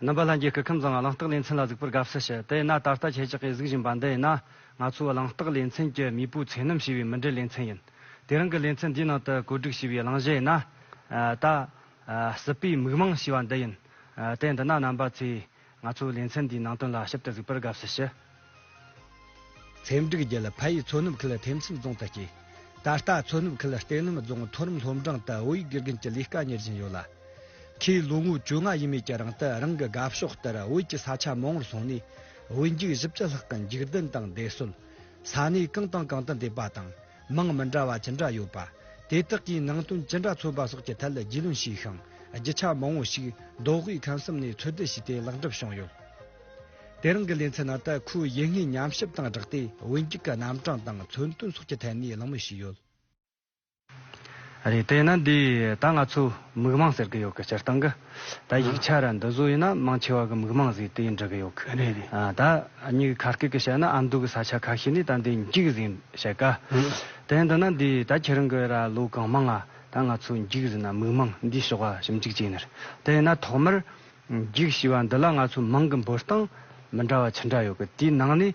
རྣམ་པ་ལྷན་རྒྱས་སྐུ་ཁམས་བཟང་ང་གླེང་སྟེགས་ལས་མཚན་ལ་གཟིགས་པར་དགའ་བསུ་ཞུ་དེས་ན་ད་ལྟ་ཁྱེད་ཅག་གིས་གཟིགས་བཞིན་པ་འདི་ཡིན་ན་ང་ཚོའི་གླེང་སྟེགས་ལས་མཚན་གྱི་མིས་པོའི་ཚེ་ནམ་ཞེས་པའི་མི་འབྲེལ་ལས་མཚན་ཡིན་དེ་རང་གི་ལས་མཚན་འདིའི་ནང་དུ་བཀོད་སྒྲིག་བྱས་པའི་གླེང་གཞི་ཡིན་ན་ད། སྲིད་པའི་མིག་མངས་ཞེས་པ་འདི་ཡིན། དེ་འདི་ན་རྣམ་པ་ཚོས་ང་ཚོའི་ལེ་ཚན་འདིའི་ནང་དོན་ལ་ཞིབ་ཏུ་གཟིགས་པར་དགའ་བསུ་ཞུ། ཚེ་འབྲུག་རྒྱལ་ཕ་ཡིས་མཚོ་ནུབ་ཁུལ་ཐེམ་ཚིག་རྫོང་དུ་སྐྱེས། ད་ལྟ་མཚོ་ནུབ་ཁུལ་གཏེར་ལམ་རྫོང་མཐོ་རིམ་སློབ་འབྲིང་དུ་བོད་ཡིག་དགེ་རྒན་གྱི་ལས་ཀ་གཉེར་བཞིན་ཡོད་ལ། ཁོས་ལོ་ངོ་བཅོ་ལྔ་ཡས་མས་ཀྱི་རིང་དུ་རང་གི་དགའ་ཕྱོགས་ལྟར་བོད་ཀྱི་ས་ཆ་མང་བོར་སོང་ནས་བོད་འགྱིག་བཞི་བཅུ་ལྷག་གི་འགྱིག་རྡུལ་དང་འདེད་གསོལ། ས་གནས་གང་དང་གང་དུ་འདེད་པ་དང། མིང་མི་འདྲ་བ་ཅི་འདྲ་ཡོད་པ། དེ་དག་གིས་ནང་དོན་ཅི་འདྲ་འཚོལ་བ་སོགས་ཀྱི་ཐད་རྒྱུས་ལོན་བྱས་ཤིང། རྒྱུ་ཆ་མང་བོ་ཞིག་མདོ་དབུས་ཁམས་གསུམ་ནས་འཚོལ་སྡུད་བྱས་ཏེ་ལེགས་འགྲུབ་བྱུང་ཡོད། དེ་རིང་གི་ལེ་ཚན་ནང་དུ་ཁོའི་ཡིད་སྔའི་ཉམས་ཞིབ་དང་སྦྲགས་ཏེ་བོད་འགྱིག་གི་རྣམ་གྲངས་དང་མཚོན་དོན་སོགས་ཀྱི་ཐད་ནས་གླེང་མོལ་བྱས་ཡོད། རེད། དེས་ན་འདིས་ད་ང་ཚོས་མིག་མངས་ཟེར་གྱི་ཡོད་ཀི་སྤྱིར་བཏང་གི། ད་ཡིག་ཆ་ར་འདི་བཟོ་ཡི་ན་མང་ཆེ་བ་གི་མིག་མང་ཟིག་དེ་འབྲི་གི་ཡོག་གི་རེད་རེད་ད་སྙིག་གི་ཁ་སྐད་གི་བཤད་ན་ཨ་མདོ་གི་ས་ཆ་ཁ་ཤི་ནི་ད་འདི་འཇིག་ཟིན་བཤད་ག་དེ་འདི་ན་འདི་ད་ཁྱེད་རང་གི་ར་ལོ་གང་མང་ང་ད་ང་ཚོ་འཇིག་ཟིན་ན་མིག་མང་འདི་ཞོག་ཨ་ཞིམ་འཇིག་ཅེ་ནི་རེད་དེ་ཡི་ན་ཐོག་མར་འཇིག་ཞི་བ་འདི་ལ་ང་ཚོ་མང་གི་འབོར་སྟངས་མི་འདྲ་བ་ཇི་འདྲ་ཡོག་གི་དེའི་ནང་ནས།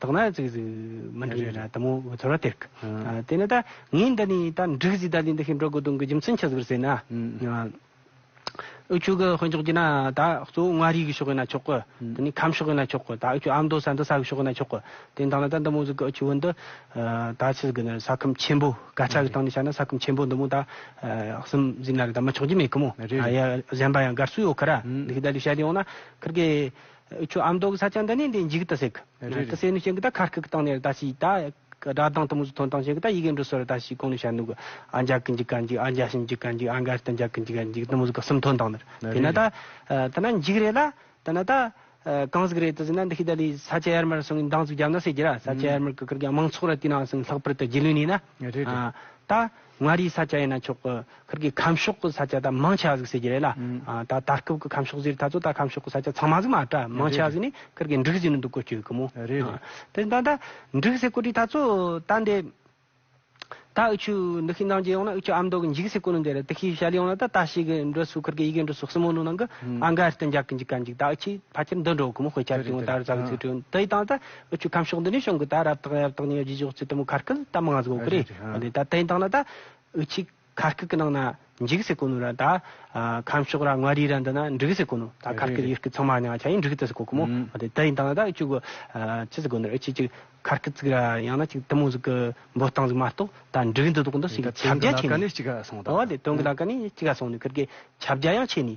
དག་ན་ཙིག་ཙིག་མི་འགྲིག་ན་དུ་མོ་བུ་ཚོར་བ་སྟེར་གི། དེ་ནས་ད་ངས་འདི་ནས་ད་འགྲིག་ཟིག་ད་ལས་འདི་ཤི་འགྲོ་དགོས་དོན་གི་རྒྱུ་མཚན་ཆགས་ཟིག་པར་ཟེར་ན། ཨོ་ཆོས་གི་དཔོན་ཆོག་གྱིས་ན་ད་གཙོ་བོ་མངའ་རིས་ཀྱི་ཕྱོགས་གྱིས་ན་ཆོག་གི། དེ་ནས་ཁམས་ཕྱོགས་གྱིས་ན་ཆོག་གི་ད་ཨོ་ཆོས་ཨ་མདོ་ས་མདོ་ས་ཀྱི་ཕྱོགས་གྱིས་ན་ཆོག་གི། དེ་ད་ལ་ད་འདི་མོ་ཟིག་གི་ཨོ་ཆོས་བོན་འདི་ད་ཆི་ཟིག་གི་ནི་ས་ཁམས་ཆེན་པོ་སྐད་ཆ་གི་སྟངས་ནས་བྱ་ན་ས་ཁམས་ཆེན་པོ་འདི་མོ་ད་གསུམ་ཟིག་ན་རི་ད་མི་ཆོག་གྱི་མེད་གི་མོ། ཡ་གཞན་པ་ཡང་དགར་སུ་ཡོད་གི་ར། འདི་ཤི་ད་ལས་བཤད་དེ་ཡོང་ན་ཁིར་གི། ཁྱོད་ཨ་མདོ་གི་ས་ཆ་འདི་ནས་འདི་འཇིག་ཏུ་ཟེག་གི། ད་སེ་ནུ་ཞེན་གི་ད་ཁ་རྐུག་གི་སྟང་ནས་ར་ད་ཤི་ད། སྒྲ་གདངས་དུ་མུ་ཟུ་ཐོན་སྟང་ཞེན་གི་ད་ཡི་གེ་འབྲུ་སོ་ར་ད་ཤི་གོང་ནས་བཤད་འདུག་གི། ཨ་འཇག་གི་འཇིག་ག་འཇིག་ཨ་འཇའ་ཤིང་འཇིག་ག་འཇིག་ཨ་འགའ་ཤི་ད་འཇག་གི་འཇིག་ག་འཇིག་དུ་མུ་ཟུ་ག་གསུམ་ཐོན་སྟང་ནི་རེད། དེ་ན་ད། ད་ན་འཇིག་རེད་ལ། ད་ན་ད། གང་ཟིག་རེད་དུ་ཟེར་ན་འདི་ཤི་ད་ལིས་ས་ཆ་ཡར་མར་སོང་གི་འདང་ཟུག་རྒྱབ་ན་ཟེར་གྱི་ར་ས་ཆ་ཡར་མར་གི་ཀིར་གི་དམངས་ཚོགས་ར་དེ་ནང་སོང་གི་ལྷག་པར་དུ་རྗེས་ལུས་ནས་ན། ད། མངའ་རིས་ས་སྐྱ་ཡན་ན་ཆོག་གི་ཁུལ་གྱི་ཁམས་ཕྱོགས་ཀྱི་ས་སྐྱ་ད་མང་ཆེ་བ་ཟིག་ཟེར་གྱི་རེད་ལ། ད་ད་སྐབས་ཀྱི་ཁམས་ཕྱོགས་ཟེར་ད་ཚོ་ད་ཁམས་ཕྱོགས་ཀྱི་ས་སྐྱ་ཚང་མ་ཟིག་མ་གྲ་མང་ཆེ་བ་ཟིག་ནི་ཁུལ་གྱི་འབྲུག་ཟེར་ནི་འདུག་གོ་བསྐྱོད་གི་མོ། རེད་རེད། དེ་ད་ད་འབྲུག་ཟེར་གོ་དྲིས་ད་ཚོ་ད་འདི། ད་འུ་ཆུ་འདི་ཤི་འདང་རྗེས་ཡོང་ན་འུ་ཆུ་ཨ་མདོ་གི་འཇིག་ཟེར་གོ་ནི་འདི་རེད་དེ་ཤི་ཤ་ལི་ཡོང་ན་ད་ད་ཤི་གི་འགྲོ་སུ་ཁུལ་གྱི་ཡི་གེ་འགྲོ་སུ་སྲིན་མོ་ནུ་ནང་གི་ཨ་འགའ་རྟེན་རྒྱག་གི་འཇིག་ག་འཇིག་ད་འུ་ཆུས་ཕ་ཁྱེར་འདི་འགྲོ་གི་མོ་དཔེ་ཆ་རིག་ཡོང་ད་རུ་ཟ་གི་ཚུལ་བྲིས་ཡོང་དེ་ད་ད། ཨུ་ཆུ་ཁམས་ཕྱོགས་འདི་ནས་བྱུང་གི་ད་རབ་དང་ཡབ་དང་གཉིས་ཀྱི་རྗེས་ཕྱོགས་བརྩེ་དུང་ཁ་སྐད་ད་མང་གཟུགས་གི་རེད་ཨ་ད་དེང་དང་ན་ད་ཨུ་ཆུ་ཁ་སྐད་གི་ནང་ན་འཇིག་ཟེར་གོ་ནོ་ར་ད་ཁམས་ཕྱོགས་ར་མངའ་རིས་ར་འདི་ན་འབྲུག་ཟེར་གོ་ནོ་ད་ཁ་སྐད་ཡུལ་སྐད་ཚང་མ་ཉང་ཆ་ཡིན་འབྲུག་ད་ཟེར་གོ་གི་མོ་ཨ་ད་དེང་དང་ན་ད་ཨུ་ཆུ་གི་ཅི་ཟེར་གོ་ནོ་ར་ཨུ་ཆུ་གི་ཁ་སྐད་ཟིག་ར་ཡང་ན་ཅིག་དུ་མོ་ཟིག་གི་འབོ་སྟངས་ཟིག་མ་གཏོགས་ད་འབྲུག་འདི་དོག་འདི་ཟིག་ཁྱབ་རྒྱ་ཆེ་ནི་ཨོ་ད་དོན་གི་ལ་ཀ་ནི་གཅིག་ག་སོང་ནི་ཁིར་གི་ཁྱབ་རྒྱ་ཡང་ཆེ་ནི།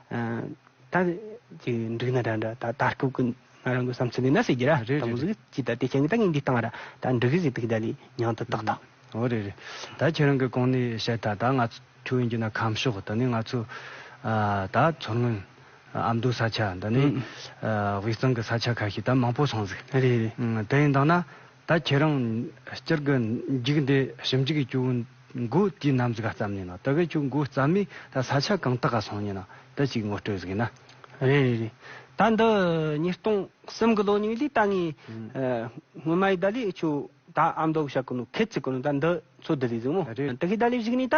ད་ཅི་འགྲིག་ན་འདྲ་འདྲ་ད་ལྟ་སྤྲོ་སྐུ་ང་རང་གི་བསམ་ཚུལ་ནི་ན་ཟེར་གྱི་ར་རེད་རེད་ད་མུ་ཟིག་ཅི་ད་དེ་ཁྱེད་ཀྱི་ད་ངས་འདི་བཏང་ར་ད་འགྲིག་གི་ཟིག་དག་ད་ལི་མྱང་ད་ཏག་ཏག། འོ་རེད་རེད་ད་ཁྱེད་རང་གི་གོང་ནས་བཤད་ད་ད་ང་ཚོའི་ཡིན་གྱི་ན་ཁམས་ཕྱོགས་ད་ནི་ང་ཚོ་ད་མཚོ་སྔོན་ཨ་མདོའི་ས་ཆ་ད་ནི་དབུས་གཙང་གི་ས་ཆ་ཁ་ཤས་ད་མང་པོ་སོང་ཟིག་རེད་རེད་ད་ཡིན་དང་ན། ད་ཁྱེད་རང་སྤྱིར་གི་འཇིག་འདི་ཞིབ་འཇུག་གི་ཆུ་བོའི་མགོ་དེའི་གནམ་གཟིགས་ག་ཙམ་ཡིན་ནོ་དེ་གའི་ཆུ་མགོ་རྩ་མེད་ད་ས་ཆ་གང་དག་ག་སོང་ཡིན་ནོ་དེ་གཅིག་ངོ་སྤྲོད་གཟིགས་ན། རེད་རེད་རེད་ད་འདི་ཉིས་སྟོང་གསུམ་གི་ལོ་རྙིང་ལས་ད་ངའི་སྔོན་མ་ཡི་ད་ལོའི་ཆུ་བོ་ད་ཨ་མདོ་གཞག་གི་ནོ་ཁད་ཅིག་གི་ནོ་ད་འདི་ཚོ་འདི་ལས་གཟིགས་མོ་དེ་གའི་ད་ལོའི་གཞིགས་ནས་ད་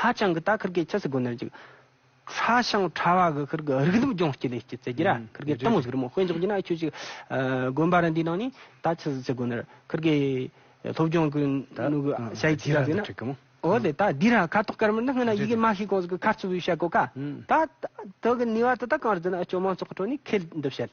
ཧ་ཅང་གི་ད་ཁིར་གེ་ཆི་སི་གོ་ནར་ཅིག། ཧྲ་ཤང་ཧྲ་བ་གི་ཁིར་གི་རིག་གདུབ་ལྗོངས་སྐྱི་ལེ་སྐྱི་ཙེ་ཀྱི་ར་ཁིར་གེ་ཏང་ཟིག་རི་མོ་དཔེ་འཇོག་གྱི་ན་ཁྱོད་ཅིག། དགོན་པ་ར་འདིའི་ནང་ནས་ད་ཆི་སི་ཙེ་གོ་ནར་ཁིར་གེ་སློབ་སྦྱོང་གི་ནུ་གི་ཤ་ཡིག་ཅི་ཟ་ཟི་ན། འོ་དེ་ད་འདིའི་ར་ཁ་དོག་དཀར་མོ་འདི་སྔོན་ན་ཡི་གེ་མ་ཤེས་གོང་ཟིག་གི་ཁ་རྩུབ་བུའི་ཤ་གོ་ཀ། ད་ད་གི་ནུས་བ་དེ་དག་གང་རུ་བརྫུས་ན་ཅོ་མང་ཚོགས་ཁྲོད་ནས་ཁེལ་འདུབ་བྱེད།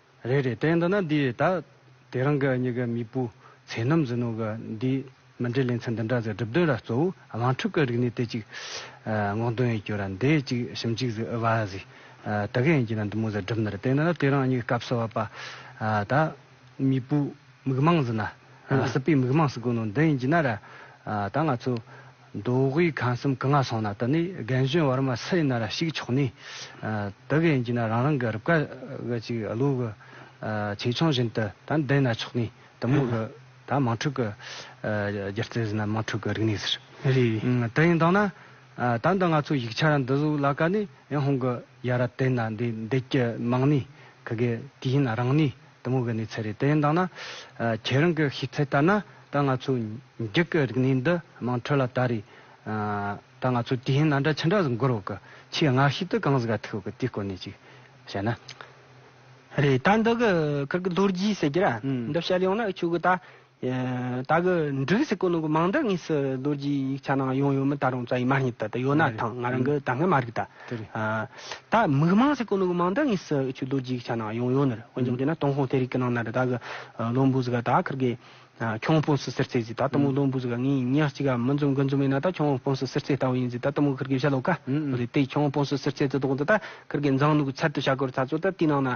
རེད་རེད་དེ་འདི་ན་འདི་ད་དེ་རང་གི་གཉིས་ཀ་མིག་སྤུ་ཚེ་ནམ་ཟིན་ནོ་གི་འདི་མི་འདྲའི་ལེ་ཚན་འདི་འདྲ་ཟེར་གྲུབ་དོན་ར་གཙོ་བོ་དམངས་ཁྲོད་ཀི་རིག་ནི་དེ་ཅིག་སྔོག་འདོན་ཡིན་གྱུར་ར་འདི་ཅིག་ཞིམ་ཅིག་ཟིག་ཨི་བ་ཟིག་དི་ག་ཡིན་གྱི་ན་འདི་མོ་ཟེར་གྲུབ་ནི་ར་དེ་འདི་ན་དེ་རང་གཉིས་ཀ་སྐབས་སི་བ་པ་ད་མིག་སྤུ་མིག་མང་ཟིན་ན་སི་པའི་མིག་མང་སི་གོ་ནོ་འདི་ཡིན་གྱི་ན་ར་ད་ང་ཚོ། མདོ་དབུས་ཁམས་གསུམ་གང་ང་སོང་ན་དེ་ནས་རྒན་གཞོན་བར་མ་སུ་ཡིན་ན་ར་ཞིག་ཆོག་ནས་དེ་ག་ཡིན་གྱིས་ན་རང་རང་གི་རུབ་ཀ་གི་ཅིག་བློ་གི་ཆེ་ཆུང་བཞིན་དུ་ད་འདི་ཡིན་ན་ཆོག་ནས་དུ་མོ་གི་ད་མང་ཕྲུག་གི་སྒྱུ་རྩལ་ཟིན་ན་མང་ཕྲུག་གི་རིག་གནས་ཟེར། དེ་ཡིན་དང་ན་ད་འདི་ང་ཚོ་ཡིག་ཆ་ར་འདི་བཟོ་ལ་ག་ནས་ཡང་ཧོང་གི་ཡ་ར་དེ་ན་འདི་འདི་ཀྱི་མང་ནས་གི་གི་དེ་ཡིན་ན་རང་ནས་དེ་མོ་གི་ནི་ཚེ་རེད་དེ་ཡིན་དང་ན། ཁྱེད་རང་གི་ཤེས་ཚད་ལྟར་ན་ད་ང་ཚོ་འགྱིག་གི་རིག་གནས་འདི་མང་ཁྲོད་ལ་ད་རེད། ད་ང་ཚོ་དུས་ཡིན་ན་འདྲ་ཆུ་འདྲ་ཟིག་འགོར་འོག་གི་ཆུའི་སྔགས་ཤིག་ཏུ་གངས་ཟིག་ག་ཐུག་གི་དུས་སྐོར་ནས་ཅིག་བཤད་ན། རེད་ད་འདི་གི་ཁག་གི་ལྷོ་རྒྱུས་ཟེར་གྱི་ར་འདི་བཤད་ཡོང་ན་ཆོས་གོས་ད། ད་གི་འབྲུག་སི་ཀོ་ནང་གི་མང་དག་ངེས་སི་རྡོར་རྗེའི་ཡིག་ཆ་ནང་ཡོང་ཡོད་མི་ད་རུང་རྩ་ཡིག་མ་རྙེད་ད་ད་ཡོད་ན་ཐང་ང་རང་གི་ད་སྔ་མ་རིག་ད། ད་མིག་མང་སི་ཀོ་ནང་གི་མང་དག་ངེས་སི་ཨུ་ཆུ་རྡོར་རྗེའི་ཡིག་ཆ་ནང་ཡོང་ཡོད་ནི་འོན་ཀྱང་དེ་ན་ཏུང་ཧོང་ཐའི་རིག་གི་ནང་ན་རི་ད་གི་ལོ་འབུ་ཟི་ག་ད་ཁིར་གི་ཁྱོང་སྤུན་སི་སིར་རྩེ་ཟི་ད་ཏུ་མུག་ལོ་འབུ་ཟི་ག་ངའི་ཉག་གཅིག་ག་མི་འཛོམ་གི་འཛོམ་མེད་ན་ད་ཁྱོང་སྤུན་སི་སིར་རྩེ་ལྟ་བུ་ཡིན་ཟི་ད་ཏུ་མུག་ཁིར་གི་བྱ་ལོ་ཀ་རེད་དེ་ཁྱོང་སྤུན་སི་སིར་རྩེ་རྩེ་དོག་ཏུ་ད་ཁིར་གི་མཛངས་ནུག་གི་ཚལ་དུ་བྱ་གོར་ཚ་ཚོ་ད་དེའི་ནང་ན་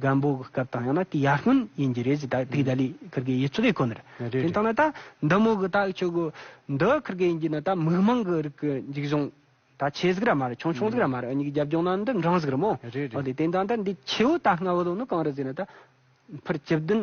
སྒམ་པོ་གི་སྐབས་དང་ཡང་ན་དེའི་ཡར་སྔོན་ཡིན་གྱི་རེད་ཅེས་ད་དུས་ད་ལི་ཁིར་གའི་ཡུལ་ཚོ་རེ་གོ་ནི་རེད། རེད་དེ་རེད། མཐོང་ན་ད་འདི་མོ་གི་ད་ཆོས་གོ། འདི་ཁིར་གའི་ཡིན་གྱི་ན་ད་མིག་མང་གི་རིགས་ཀྱི་འཇིག་གཞུང། ད་ཆེ་ཟིག་ར་མ་རེད་ཆུང་ཆུང་ཟིག་ར་མ་རེད་གཉིས་ཀྱི་རྒྱབ་ལྗོངས་ན་འདི་འབྲིང་ཟིག་རེད་མོ། རེད་རེད། འོ་དེ་དེ་འདྲ་ད་འདི་ཆེའུ་ད་སྔ་བོ་ལོ་ནི་གང་རེད་ཟེར་ན་ད་ཕིར་བཅུ་བདུན།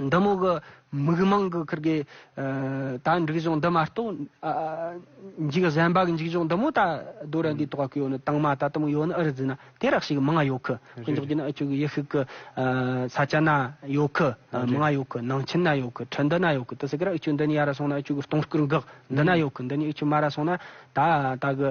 འདི་མོ་གི་མིག་མང་གི་ཁུར་གི། ད་འགྲིག་གཞུང་འདི་མ་གཏོགས། འཇིག་གཟན་པ་གི་འཇིག་གཞུང་འདི་མོ་ད་རྡོ་ར་འདིའི་ཐོག་གི་ཡོད་ནི་དྭངས་མ་ད་དུམ་ཡོད་ནི་ཨི་རི་ཛི་ན་དེ་རགས་ཤིག་མང་ང་ཡོད་ཁུ། དཀོན་མཆོག་གྱི་ནི་ཨི་ཅུག་གི་ཡེ་ཤུག་གི་ས་ཆ་ན་ཡོད་ཁུ། མང་ང་ཡོད་ཁུ་ནང་ཆེན་ན་ཡོད་ཁུ་ཁྲི་འདི་ན་ཡོད་ཁུ་དི་སི་ཀི་ར་ཨི་ཅུག་འདི་ནི་ཡ་ར་སོང་ན་ཨི་ཅུག་གི་སྟོང་སྐུར་འགག་འདི་ན་ཡོད་ཁུ་འདི་ནི་ཨི་ཅུག་མ་ར་སོང་ན་ད་ད་གི།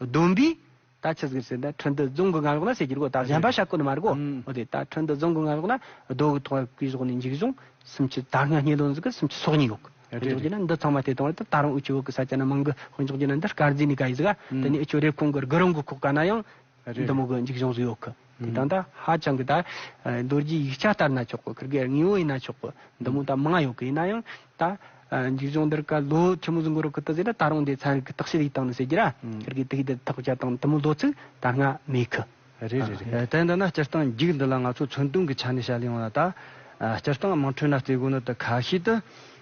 བདུན་པའི། ད་ཆུ་ཟིག་སེར་ད་ཁྲི་འདི་རྫོང་གི་སྔ་གཡོག་ན་ཟེར་གྱི་རེད་གོ་ད་གཞན་པ་ཤ་བཀོད་ནི་མ་རེད་གོ་ཨོ་དེ་ད་ཁྲི་འདི་རྫོང་གི་སྔ་གཡོག་ན་རྡོ་གི་ཐོག་ཡོག་གི་གཞོག་ནས་འཇིགས་བྱུང་སུམ་ཆུ་ད་སྔ་སྙེ་ལོང་ཟིག་གི་སུམ་ཆུ་སོག་གཉིས་ཡོག་གི་ཨོ་འཇོག་རྒྱུ་ན་འདི་ཚང་མ་བལྟས་དང་བལྟས་ད་རང་འུ་ཆུ་བོ་གི་ས་ཆ་ན་མང་གི་ཨོ་འཇོག་རྒྱུ་ན་འདི་སྐར་རྫིས་ནས་ག་ཡི་ཟིག་ཨ་དེ་ནས་འུ་ཆུ་རེབ་གོང་གི་རྒུ་རོང་གི་ཁོག་ཀ་ན་ཡང་འདི་མོ་གི་འཇིགས་བྱུང་ཟིག་ཡོག་གི། དེ་དང་ད་ཧ་ཅང་གི་ད་རྡོ་རྗེའི་ཡིག་ཆ་ལྟར་ན་ཆོག་གི་ཁིར་གའི་དངོས་བོ་ཡིན་ན་ཆོག་གི་འདི་མོ་ད་མང་ཡོད་གི་ཡིན་ན་ཡང་ད་འཇིགས་བྱུང་འདིར་ག་ལོ་ཆུ་མོ་ཟུང་གི་རོ་ཁི་ཏི་ཟེར་ན་ད་རུང་དེ་ཚན་རིག་གི་རྟགས་ཤེད་ཡིག་སྟངས་ནས་ཟེར་གྱི་ར་ཁིར་གའི་དིག་དེ་ཐག་བཅད་སྟངས་དུ་མོ་ལོ་ཚིག་ད་སྔ་མེད་གི། རེད་རེད་རེད་དེ་འདི་ན་སྤྱིར་བཏང་འགྱིག་འདི་ལ་ང་ཚོ་མཚོན་དུང་གི་ཆ་ནས་བཤད་ཡོང་ན་ད་སྤྱིར་བཏང་དམངས་ཁྲོད་ན་རྩེ་དགོན་ནི་དུ་ཁ་ཤས་དུ་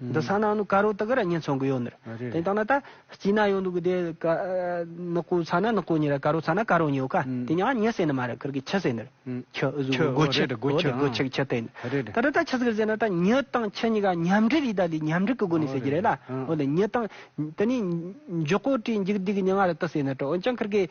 འདི་ས་ནང་ནུ་ཀ་རོ་དག་ར་ཉན་ཚོང་གི་ཡོད་ནི། དེ་ལྟ་ན་ད། སྐྱིད་ན་ཡོད་འདུག་གི་དེ། ནག་པོ་ཚ་ན་ནག་པོ་ཉེ་ར་ཀ་རོ་ཚ་ན་ཀ་རོ་ཉེ་ཡོད་ཀ། དེ་ཉའང་ཉེ་ཟེར་ནི་མ་རེད་ཁིར་གི་ཁྱི་ཟེར་ནི་རེད། ཁྱི། སྒོ་ཁྱི། སྒོ་ཁྱི། སྒོ་ཁྱི་ཁྱི་སྟེ། ད་ད་ད་ཁྱི་ཟེར་ཟེར་ན་ད་ཉི་དང་ཁྱི་གཉིས་ཀ་མཉམ་འབྲེལ་ཡིད་ད་ལི་མཉམ་འབྲེལ་གི་སྒོ་ནས་ཟེར་གྱི་རེད་ལ། འོ་ལེ་ཉི་དང། དེ་ནས། འཇོག་གོ་དྲིས་འཇིག་སྡིག་གི་ཉི་ང་ར་ཏི་ཟེར་ནི་ཏྲོ་འོན་ཀྱང་ཁིར་གི།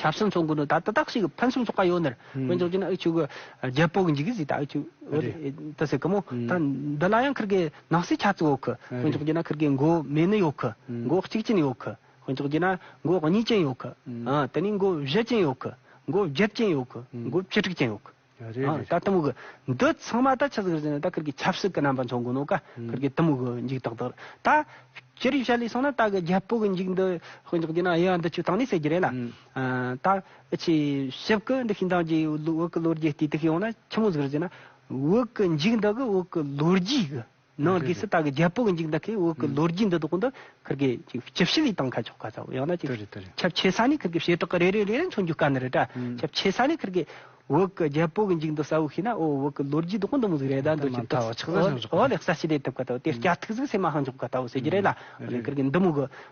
ཆབ་སྲིད་ཚོགས་འགོ་ནི་ད་ལྟ་དག་ཞིག་ཕུན་སུམ་ཚོགས་པ་ཡོད་ནི་རེད། དཔོན་ཚོགས་ཀྱིས་ནི་ཨུ་ཆོས་ཀྱི་རྒྱལ་པོ་གི་འཇིགས་སྐུལ་ཟིག་ད་ཨུ་ཆོས་ཨུད་ཟེར་གི་མོ། ད་འདི་ལ་ཡང་ཁིར་གའི་ནག་སེལ་ཆ་ཚིག་ཡོད་གི། དཔོན་ཚོགས་ཀྱིས་ན་ཁིར་གའི་མགོ་མེད་ནི་ཡོད་གི། མགོ་གཅིག་ཅན་ཡོད་གི། དཔོན་ཚོགས་ཀྱིས་ན་མགོ་གཉིས་ཅན་ཡོད་གི། དེ་ནས་མགོ་བཞི་ཅན་ཡོད་གི། མགོ་བརྒྱད་ཅན་ཡོད་གི། མགོ་བཅུ་དྲུག་ཅན་ཡོད་གི། ད་དུམ་གུ། འདི་ཚང་མ་ད་ཆ་ཟིག་རེད་ཟེར་ན་ད་གིར་གི་ཆབ་སྲིད་གི་རྣམ་པ་མཚོན་དགོས་ནོ་ག་གིར་གི་དུམ་གུ་འཇིག་ཏག་ཏག་རེད། ད་ཅི་རིགས་བྱ་ལས་སོང་ན་ད་གི་རྒྱལ་པོ་གི་འཇིག་འདི་དཔེ་འཇོག་དེ་ན་དབྱེ་བ་འདི་ཆོས་ཐང་ནས་ཟེར་གྱི་རེད་ལ། ད་ཆེས་ཞིབ་གི་འདི་ཤིང་ཐང་གི་བོད་ཀི་ལོ་རྒྱུས་ལྟོས་དེ་ཤེས་ཡོང་ན་ཆི་མོ་ཟིག་རེད་ཟེར་ན། བོད་ཀི་འཇིག་འདི་གི་བོད་ཀི་ལོ་རྒྱུས་གི། ནང་གི་སྲི་ད་གི་རྒྱལ་པོ་གི་འཇིག་ད་གི་འོག་གི་ལོ་རྒྱུས་འདི་དག་འདི་ཁིར་གི་ཅི་ཕྱི་ལི་ཏང་ཁ་ཆོག་ག་ཚ་བོ་ཡང་ན་ཅི་ཁྱབ་ཆེ་ས་ནི་ཁིར་གི་བྱེ་བྲག་གི་རེ་རེ་རེ་རེ་མཚོན་རྒྱུ་དཀའ་ནི་རེད་དྲ་ཁྱབ་ཆེ་ས་ནི་ཁིར་གི་འོག་གི་རྒྱལ་པོ་གི་འཇིག་འདི་ས་བོ་ཤི་ན་འོ་འོག་གི་ལོ་རྒྱུས་དག་འདི་མོ་ཟིག་རེ་ད་འདོད་ཀྱི་འདི་འོ་ལེགས་ས་ཤི་དེ་ཐུབ་ག་ད་བོ་དེ་སྐྱ་ཐིག་ཟིག་སེ་མ་ཧང་ཆོག་ག་ད་བོ་ཟེར་གྱི་རེད་ལ་ཁིར་གི་འདི་མོ་གི།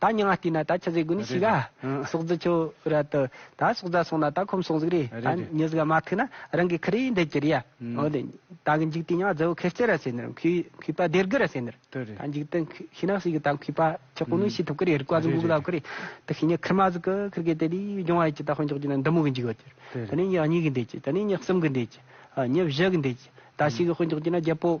ད་སྙིང་ང་བལྟས་ན་ད་ཆུ་ཟེ་དགུ་ནི་ཕྱི་ག། སོག་རྫི་ཆུ་ར་དུ། ད་སོག་རྫ་སོང་ན་ད་ཁོམ་སོང་ཟིག་རེད། ད་མྱི་ཟིག་ག་མ་ཐུག་ན་རང་གི་ཁི་རིའི་འདི་གྱི་རི་ཡ། འོ་དེ། ད་གི་འཇིག་དུས་སྙིང་ང་རྫི་བོ་ཁེར་སྐྱེར་ར་ཟེར་ནི་རུང་ཁུས་ཁུས་པ་སྡེར་དགུ་ར་ཟེར་ནི་རུང། ད་འཇིག་དུས་ཁི་ནག་ཟིག་གི་ད་ཁུས་པ་ཁྱི་ཀོ་ནུ་ཤི་ཐུབ་ཀི་རེད་རི་ཀ་ཟིག་འགུག་ལ་ཁུ་རེད། དེ་ཁི་ཉི་ཁི་མ་ཟིག་གི་ཁིར་གི་དེ་དུས་སྦྱོང་བ་ཡི་གྱི་ད་ཧོན་ཅོག་གྱི་ན་འདི་མོ་གི་འཇིག་ཡོད་ཀྱི་རེད། དེ་ནི་ཉི་གཉིས་གི་འདི་གྱི་དེ་ནི་ཉི་གསུམ་གི་འདི་གྱི། ཉི་བཞི་གི་འདི་གྱི། ད་ཤི་གི་ཧོན་ཅོག་གྱི་ན་རྒྱལ་པོ།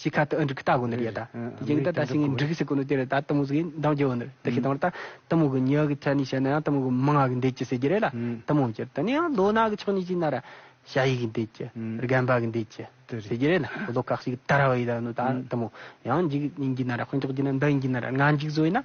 ཅིག་ཁ་ཏུ་ཨི་འབྲུག་ལྟ་གོ་ནོར་ཡོད་ད། དེ་བྱིངས་ད་ད་ཤིང་འབྲུག་ཟེར་གོ་ནོར་དེ་རེད་ད་གཏུམ་མོ་ཟེར་གིས་འདང་རྒྱག་གོ་ནོར་དེ་ཤི་དང་བ་ད་གཏུམ་མོ་གི་མྱི་གི་མཚན་ནས་བཤད་ན་ཡང་གཏུམ་མོ་གི་མི་ང་གི་འདས་ཀྱི་ཟེར་གྱི་རེད་ལ་གཏུམ་མོ་གྱི་ད་ནི་ཡང་ལོ་ནག་གི་ཕྱོགས་ནས་བྱས་ན་ར་ཤ་ཡིག་གི་འདས་ཀྱི་རྒན་པ་གི་འདས་ཀྱི་ཟེར་གྱི་རེད་ལ་ལོ་ཀག་ཤིག་གི་ད་ར་བ་ཡི་ད་ནོ་ད་གཏུམ་མོ་ཡང་འཇིག་ཡིན་གྱི་ན་ར་དཔོན་ཆགས་ཀྱི་ན་འདང་ཡིན་གྱི་ན་ར་ང་འཇིག་བཟོ་ཡིན་ན།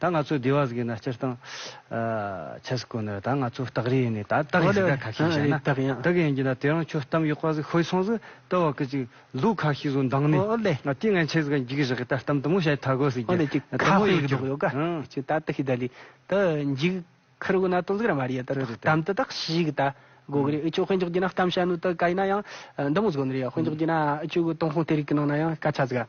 ད་ང་ཚོས་བསྡུས་བ་ཟིག་ཡིན་ན་སྤྱིར་བཏང། ཆ་ཟིག་གོ་ན་ད་ང་ཚོའི་སྟག་རི་ཡིན་ནི་ད་སྟག་ཡིན་ཟིག་ད་ཁ་ཤས་བཤད་ན། སྟག་ཡིན་གྱི་ན་དེ་རང་ཁྱོད་གཏམ་ཡོག་པ་ཟིག་ཤོད་སོང་ཟིག་ལྟོས་བ་ཀི་ཅིག་ལུག་ཁ་ཤས་ཟུག་མདང་ནི། དེ་ང་ཁྱེད་ཟིག་འཇིག་ཟིག་ད་གཏམ་དུ་མོ་བཤད་ཐ་གོ་ཟིག་རྒྱུ། ཁ་ཧོ་ཡོག་ཀྱོག་ཡོག་ཀྱིས་ད་ཏི་ཤི་ད་ལི་ད་འཇིག་ཁར་གོ་ན་དོན་ཟིག་ར་མ་རི་ཡ་ད་གཏམ་དུ་དག་ཤི་ཟིག་ད་གོ་གི་རི་ཨི་ཅོག་དཔེ་འཇོག་གྱི་ན་གཏམ་བཤད་ནུ་ད་ཀ་ཡིན་ན་ཡང་འདི་མོ་ཟིག་གོ་ནི་རི་ཡ་དཔེ་འཇོག་གྱི་ན་ཨི་ཅོག་གི་ཏོང་ཧོང་དེ་རིག་གི་ནང་ན་ཡང་སྐད་ཆ་ཟིག་ཨ།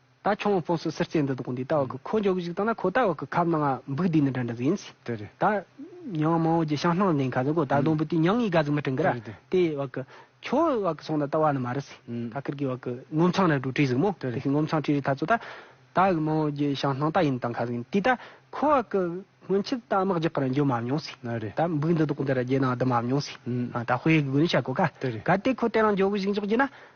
ད་ཁྱོད་དཔོན་སུ་སེར་སྐྱའི་འདུ་དགོང་འདི་ལྟ་བ་གི་ཁོ་འཇོག་གི་ཞིག་བཏང་ན་ཁོ་ལྟ་བ་གི་ཁབ་ནང་ང་འབུག་འདི་ནི་འདྲ་འདྲ་ཟིན། དེ་རེད། ད། ཉང་མའོ་རྒྱལ་ཤང་སྣང་ལྡན་ཁ་ཟེར་གོ་ད་སྡོང་བུ་དེ་ཉང་ཡི་ག་ཟིག་མི་དྲིན་གི་ར། དེ་བ་གི། ཁྱོད་བ་གི་སོང་ད་ལྟ་བ་ནི་མ་རེད་སི། ད་ཁིར་གི་བ་གི་ངོ་མཚང་ར་དྲུག་བྲིས་ཟིག་མོ་དེ་གི་ངོ་མཚང་བྲིས་རི་ཐ་ཚོ་ད། ད་གི་མའོ་རྒྱལ་ཤང་སྣང་ད་ཡིན་བཏང་ཁ་ཟིག་ཡིན་དུས་ད་ཁོ་བ་གི་སྔོན་ཆད་ད་དམག་རྒྱག་གི་ར་འཇོ་མ་མྱོང་སི། ད་འབུག་འདི་དགོང་འདི་ར་རྒྱལ་ནང་འདུ་མ་མྱོང་སི། ད་དཔེ་གི་དགོས་ནི་བྱ་གོ་ག། ག་དེ་ཁོ་དེ་རང་འཇོག་གི་ཞིག་འཇོག་རྒྱུ་ན།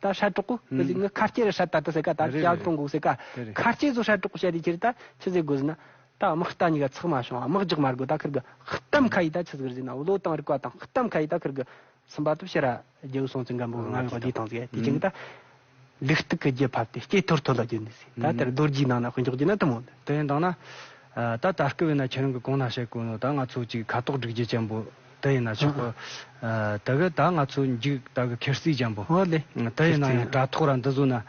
ད་ཧྲལ་གྲོགས་པོ་གི་གཟིགས་ནི་ཁ་སྐྱེ་རུ་ཧྲལ་ད་ལྟ་ཟེར་ག་ད་ལྟ་ཀྱང་གྲོང་གོག་ཟེར་ག་ཁ་སྐྱེ་བཟོ་ཧྲལ་གྲོགས་པོ་བྱས་ཏེ་ཁྱེར་ད་ཆུ་ཟེར་དགོས་ཟེར་ན་ད་དམག་རྟ་གཉིས་ཀ་ཚགས་མ་བྱུང་དམག་རྒྱག་མ་དགོས་ད་ཁིར་གི་གཏམ་ཁ་ཡིས་ད་ཆུ་ཟེར་ཟེར་ན་བློ་བཏང་རིག་པ་དང་གཏམ་ཁ་ཡིས་ད་ཁིར་གི་སུན་པ་ཏུ་ཕྱི་ར་རྒྱའུ་སོང་ཙི་འགམ་པོ་ང་བས་བདེ་ཐང་ཟེར་དེ་བྱུང་གི་ད་ལུག་སྟུག་གི་རྒྱུ་ཕབ་སྟེ་སྐྱེ་ཐོར་ཐོར་ལ་བསྒྱུར་ནས་ཟེར་ད་དེར་རྡོ་རྗེའི་ནང་ན་དཔེ་འཇོག་རྒྱུ་ན་དུ་མོ་འདི། དེ་ཡིན་དང་ན། ད་ད་སྐུ་བས་ན་ཁྱེད་རང་གི་གོང་ན་བཤད་དགོས་ནོ་ད་ང་ཚོ་གཅིག་ཁ་དོག་སྒྲིག་རྒྱུ་ཅན་པོ། དེ་ཡིན་ན་ཆོག་གོ། དེ་གར་ད་ང་ཚོ་འཇུག་ད་གི་ཁེར་སིག་འཇམ་པོ། ཨོ་ལེ། དེ་ཡིན་ན་ཡང་དྲ་ཐོག་ར་འདི་བཟུང་ན།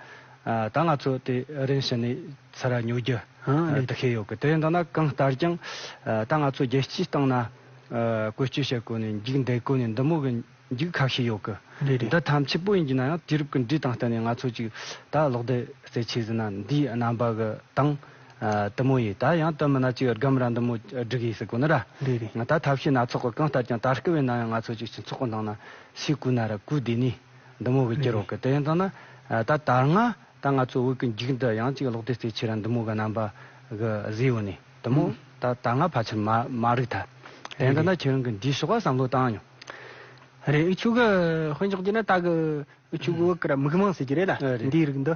ད་ང་ཚོ་དེ་རིང་ཕྱི་ནས་ཚེ་ར་ཉོ་རྒྱུ། དེ་ཤེས་ཡོད་གི་དེ་མདོར་ན་གང་ལྟར་ཀྱང། ད་ང་ཚོ་རྒྱལ་སྤྱིའི་སྟེང་ན། བཀོལ་སྤྱོད་བྱེད་དགོས་ནས་འཇུག་འདེད་དགོས་ནས་འདི་མོ་གི་འཇུག་ཁ་ཤས་ཡོད་གི། འདི་ཐམས་ཅད་པོ་ཡིན་གྱི་ན་ཡང་དུས་རབས་ཀྱི་འགྲོས་དང་བསྟུན་ནས་ང་ཚོ་ཅིག་ད་ལོག་ལྡེ་རྩེ་ཆེ་ཟིན་ན་འདིའི་རྣམ་པ་གི་སྟེང། ཏི་མོ་ཡིས། ད་ཡང་སྟོན་མི་ན་ཅི་ཡོད་སྒམ་ར་འདི་མོ་བསྒྲིག་ཡིན་ཟེར་དགོས་ན་ར། འདི་རེད། ང་ད་ཐབས་ཤེས་སྣ་ཚོགས་ཀྱི་རྐང་བསྟར་ཀྱང་ད་སྐུ་བའི་ན་ཡང་ང་ཚོ་ཅིག་ཅིག་ཚོགས་པ་ནང་ན་ཤི་སྐུ་ན་ར་སྐུ་དེ་ནས་འདི་མོ་གི་ཀྱི་རོགས་ཀྱི་དེ་ཡིན་ཙང་ན་ད་དར་ང་ད་ང་ཚོ་དབུས་ཀྱི་འཇིག་འདི་ཡང་ཅིག་ལོག་དེ་རྩེ་ཆེ་ར་འདི་མོ་གི་རྣམ་པ་གི་བཟི་ཡོ་ནས་དི་མོ་ད་དར་ང་ཕ་ཆེར་མ་རིག་ད་དེ་ཡིན་ཙང་ན་ཁྱེད་རང་གི་འདིའི་ཕྱོགས་ཀ་བསམ་བློ་བཏང་མྱོང། རེད་འུ་ཆོས་གི་དཔོན་ཆགས་ཀྱི་ན་ད་གི་འུ་ཆོས་གི་དབུ་ཀི་ར་མིག་མང་ཟེར་གྱི་རེད་ད་འདིའི་རིགས་འདི།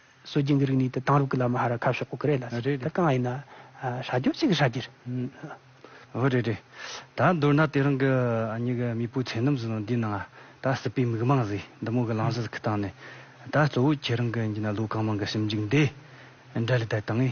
སྲོལ་རྒྱུན་གྱི་རིག་གནས་དེ་དེང་རབས་ཀྱི་ལམ་ལ་ཧ་ར་ཁ་ཕྱོགས་པོ་གི་རེད་ལ། རེད་རེད། ད་གང་ཡིན་ན། ཧྲ་རྒྱོབ་ཅིག་གི་ཧྲ་རྒྱུ་རེད། འོ་རེད་རེད། ད་མདོར་ན་དེ་རང་གི་ཨ་མྱེ་གི་མེས་པོའི་ཚེ་རྣམས་སུ་ནང་འདི་ནང་ད་སྲིད་པའི་མིག་མངས་ཟེ་འདི་མོ་གི་ལང་ཟིལ་གི་སྟེང་ནས། ད་གཙོ་བོ་ཁྱེད་རང་གི་འདི་ན་ལུས་གང་མང་གི་ཞིབ་འཇུག་འདི་འདྲ་ལས་ད་དང།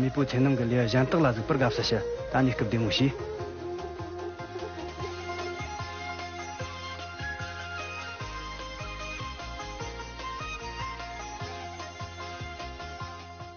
མེས་པོའི་ཚེ་ནང་གི་ལས་གཞན་དག་ལ་གཟིགས་པར་དགའ་བསུ་ཞུ། ད་ནི་སྐུ་བདེ་མོ་ཤི།